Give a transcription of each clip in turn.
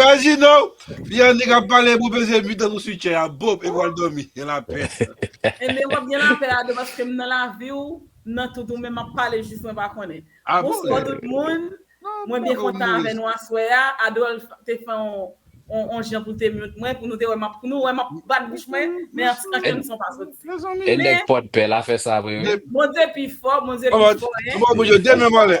Reginald, fi annik ap pale pou peze mi tan nou su chè a, bop, e pou al domi, gen la pè. E men wap gen lapè ado paske m nan laviw, m nan tout ou men map pale jis mwen pa konnen. Ah bon? Bonswa tout moun, Non, mwen byen poko kontan mouri. avè nou aswè a, Adolph te fè on on jan pou te mute mwen pou nou te wè map pou nou wè map bat bouch mwen, men an an kenn son pa soti. Mezanmi. E Men nèg pòdpè la fè sa vre wi. Bondye pi fò, Bondye An pi ba, fò an hein. ba bouche, demen mòlè.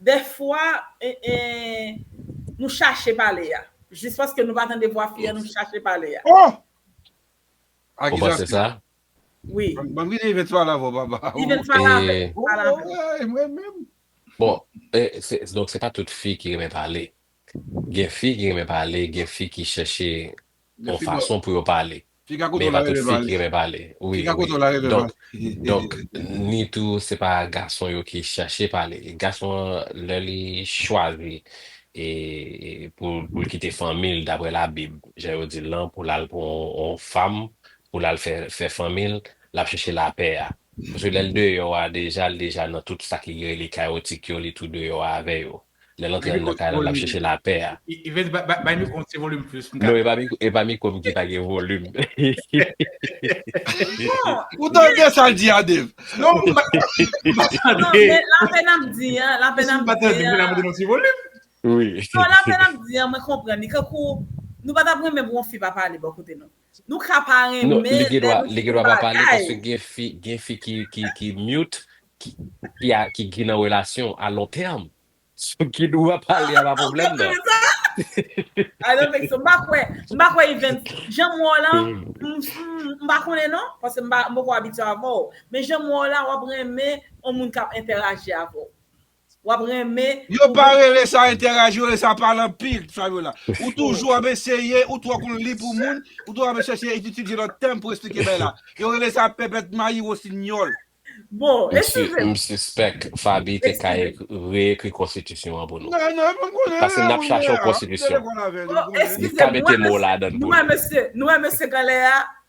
Dèfwa nou chache pale a. Jis paske nou pa tande vwa fi an nou chache pale a. Oh! Ou panse sa? Wi. Banm vini Yvette pale avè w papa. Yvette pale avè w. Pale avè w. Bon, donk se pa tout fi ki renmen pale. Gen fi ki renmen pale, gen fi ki chèche yon fason pou yo pale. Men e pa tout fi ki renmen pale. Wi, wi. Donk, donk, ni tou se pa gason yo ki chèche pale. Gason an lè li chwazi e pou pou l kite fanmi l daprè labib, jan yo di l lan, pou l al pran yon fanm, pou l al fè fè fanmi l, l ap chèche lapè a. Paske lè l deyò a deja, l deja nan tout sa ki rele kayotik yo, li tou deyò avè yo. Lè l antre anndan kay la, l ap chèche lapè a. Yves, bay mikwo an ti volim plis pou m ka tande. Non, e pa mikwo m ki pa gen volim. Ou tande sa l di a, Dave? Non, m pa tande. Non, lapè n ap di an, lapè n ap di an. Si m pa tande, m vin ap mete l an ti volim. Non, lapè n ap di an, mwen konprann li. Kankou, nou pa t ap renmen pou yon fi pa pale bò kote nou. Nou ka pa renmen lè nou fin bagay. Li gendwa pa pale paske gen fi ki mute ki gen nan relasyon a lon tèm. So gendwa pale a pa pwoblèm nan. Ou pa kwè sa? M pa kwè Evens. Janm wè w la, m pa konnen non, paske m poko abitye avè w. Men janm wè w la, w ap renmen yon moun k ap entèraji avè w. wap renmen Yo pa rele sa enteraj yo rele sa pale anpil Fabiola ou toujou ap eseye ou twò konn li pou moun ou toujou ap chèche ititilize lòt tèm pou esplike bagay la yo rele sa pèpèt mayi wosinyòl. Bon eskize m. M sispèk Faby te ka reekri konstitisyon an pou nou. Nan nan mwen konnen Pase nap chache yon konstitisyon. Bon eskize m nou wè mesye nou wè mesye kanlè a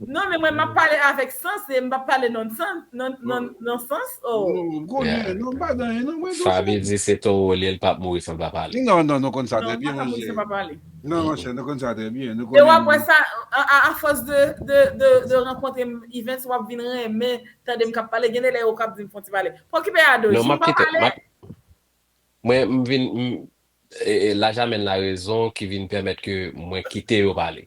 Non men mwen map pale avek sans e mpap pale non non sans oh. Non konnen non pa ganyen non mwen dousman. Faby di se toro li el pap mouri san l pa pale. Non non nou konn sa trè byen monchè. Non l paka mouri san l pa pale. Non monchè nou konn sa trè byen nou konnen. E wap wè sa a fòs de rankontre Yvens wap vin renmen tandem kap pale gen de lè ou kap dim fon ti pale. Pokipe Ado si ou pa pale. Mwen m vin m lajamèn la rezon ki vin pèmèt ke mwen kite yo pale.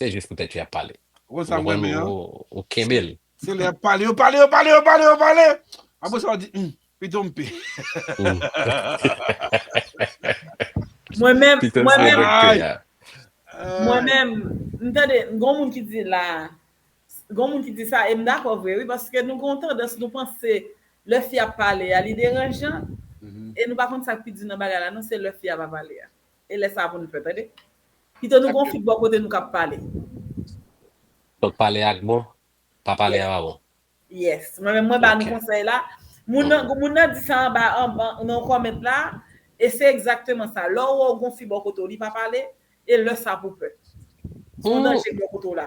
Se jis pou tèt yo yap pale. Ou konn sa m renmen an. Ou kenbe l. Se lè yap pale yo pale yo pale yo pale yo pale apre sa yo di humm pito m pe. Mwen menm mwen menm mwen menm m tande gon moun ki di la gon moun ki di sa e m dakò vre wi paske nou gon tandans nou panse lè fi ap pale a li deranjan e nou pa konn sa k pi di nan bagay la non se lè fi a pa pale a e lè sa pou n pè tande. Pito nou gon fig bò kote nou kap pale. Donk pale ak bon, pa pale a pa bon. Yes. Mwen menm mwen ba nou konsèy la. Moun nan moun nan di sa anba nan comment la e se egzakteman sa. Lè w wè w gon fi bò kote w li pa pale e lè sa pou pè. Son danje bò kote w la.